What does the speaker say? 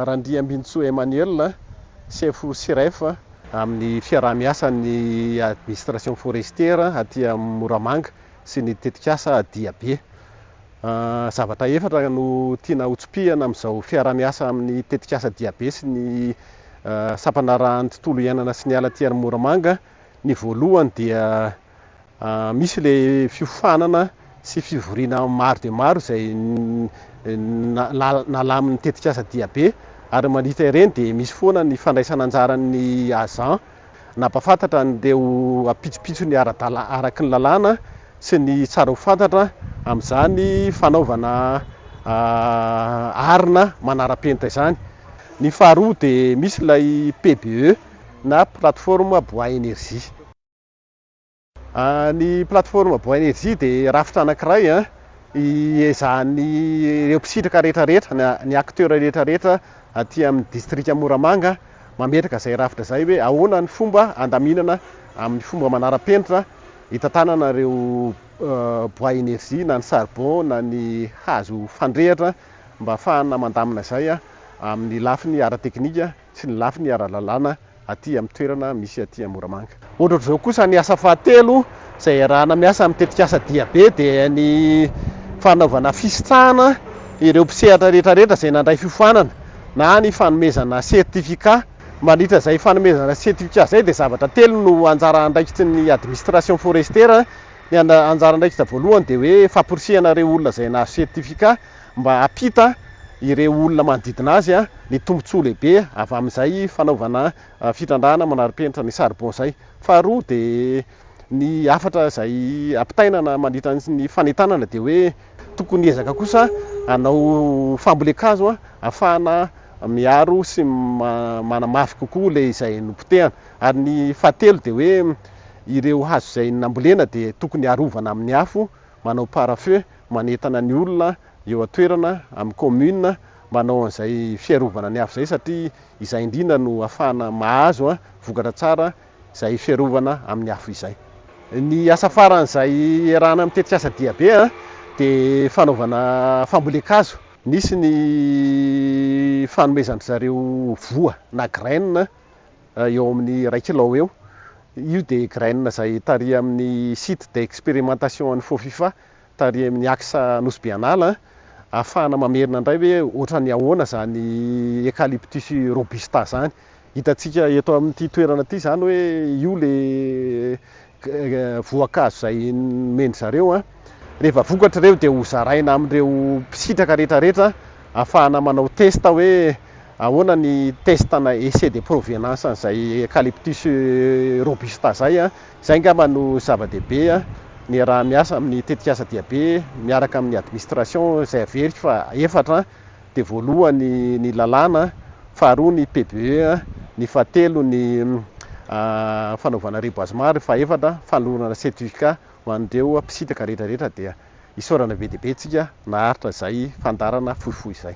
Randriambinintsoa Emmanuel, sefo Siref amin'ny fiaraha-miasan'ny administration forestière aty Moramanga sy ny tetikasa Diabe. Zavatra efatra no tiana hotsipihana amin'izao fiaraha-miasa amin'ny tetikasa Diabe sy ny sampanarahan'ny tontolo iainana sy ny ala aty amin'ny Moramanga. Ny voalohany dia. Misy ilay fiofanana sy fivoriana maro dia maro izay nalamin'ny tetikasa Diabe ary mandritra ireny dia misy foana ny fandraisana anjaran'ny agent nampahafantatra an'ireo ampitsopitsony ara-dalàna araka ny lalàna sy ny tsara ho fantatra amin'izany fanaovana arina manara-penitra izany. Ny faharoa dia misy ilay PBE na plateforme bois énergie. Ny plateforme Boenergy dia rafitra anankiray hiezahan'ny ireo mpisitraka rehetra rehetra, ny acteurs rehetra rehetra aty amin'ny distrika Moramanga mametraka izay rafitra izay hoe ahoana ny fomba handaminana amin'ny fomba manara-penitra hitantanana ireo bois energie na ny charbon na ny hazo fandrehitra mba hahafahana mandamina izay amin'ny lafiny ara-teknika sy ny lafiny ara-lalàna aty amin'ny toerana misy aty amin'ny Moramanga. Ohatraohatr'izao kosa ny asa fahatelo izay iarahana miasa amin'ny tetikasa Diabe dia ny fanaovana fisitrahana ireo mpisehatra rehetrarehetra izay nandray fiofanana na ny fanomezana certificat. Mandritra izay fanomezana certificat izay dia zavatra telo no anjara andraikitry ny administration forestière, ny anjara andraikitra voalohany dia hoe famporisihana ireo olona izay nahazo certificat, mba hampita ireo olona manodidina azy ny tombontsoa lehibe avy amin'izay fanaovana fitrandrahana manara-penitra ny charbon izay. Faharoa dia ny hafatra izay ampitainana mandritra ny fanentanana dia hoe tokony hiezaka kosa hanao fambolen-kazo ahafahana miaro sy manamafy kokoa ilay izay nopotehana. Ary ny fahatelo dia hoe ireo hazo izay nambolena dia tokony arovana amin'ny afo manao pare-feu manentana ny olona eo an-toerana, amin'ny commune, mba hanao an'izay fiarovana ny afo izay satria izay indrindra no ahafahana mahazo vokatra tsara izay fiarovana amin'ny afo izay. Ny asa faran'izay iarahana amin'ny tetikasa diabe dia fanaovana fambolen-kazo. Nisy ny fanomezan-dry zareo voa na graines eo amin'ny iray kilao eo. Io dia graines izay tarihan'ny site d'expérimentation an'i Fofifa. tarihin'ny Axa Nosy Bianala, ahafahana mamerina indray hoe ohatran'ny ahoana izany Eucalyptus robusta izany. Hitantsika eto amin'ity toerana ity izany hoe io ilay voankazo izay nomen-dry zareo. Rehefa vokatra ireo dia hozaraina amin'ireo mpisitraka rehetrarehetra ahafahana manao test hoe ahoana ny test-na essai de provenance an'izay Eucalyptus robusta izay. Izay angamba no zava-dehibe niaraha-miasa amin'ny tetikasa Diabe miaraka amin'ny administration izay averiko fa efatra dia voalohany ny lalàna, faharoa ny PBE, ny fahatelo ny fanaovana reboisement ary fahefatra fanolorana certificat ho an'ireo mpisintaka rehetrarehetra dia isaorana be dia be tsika naharitra izay fandaharana fohifohy izay.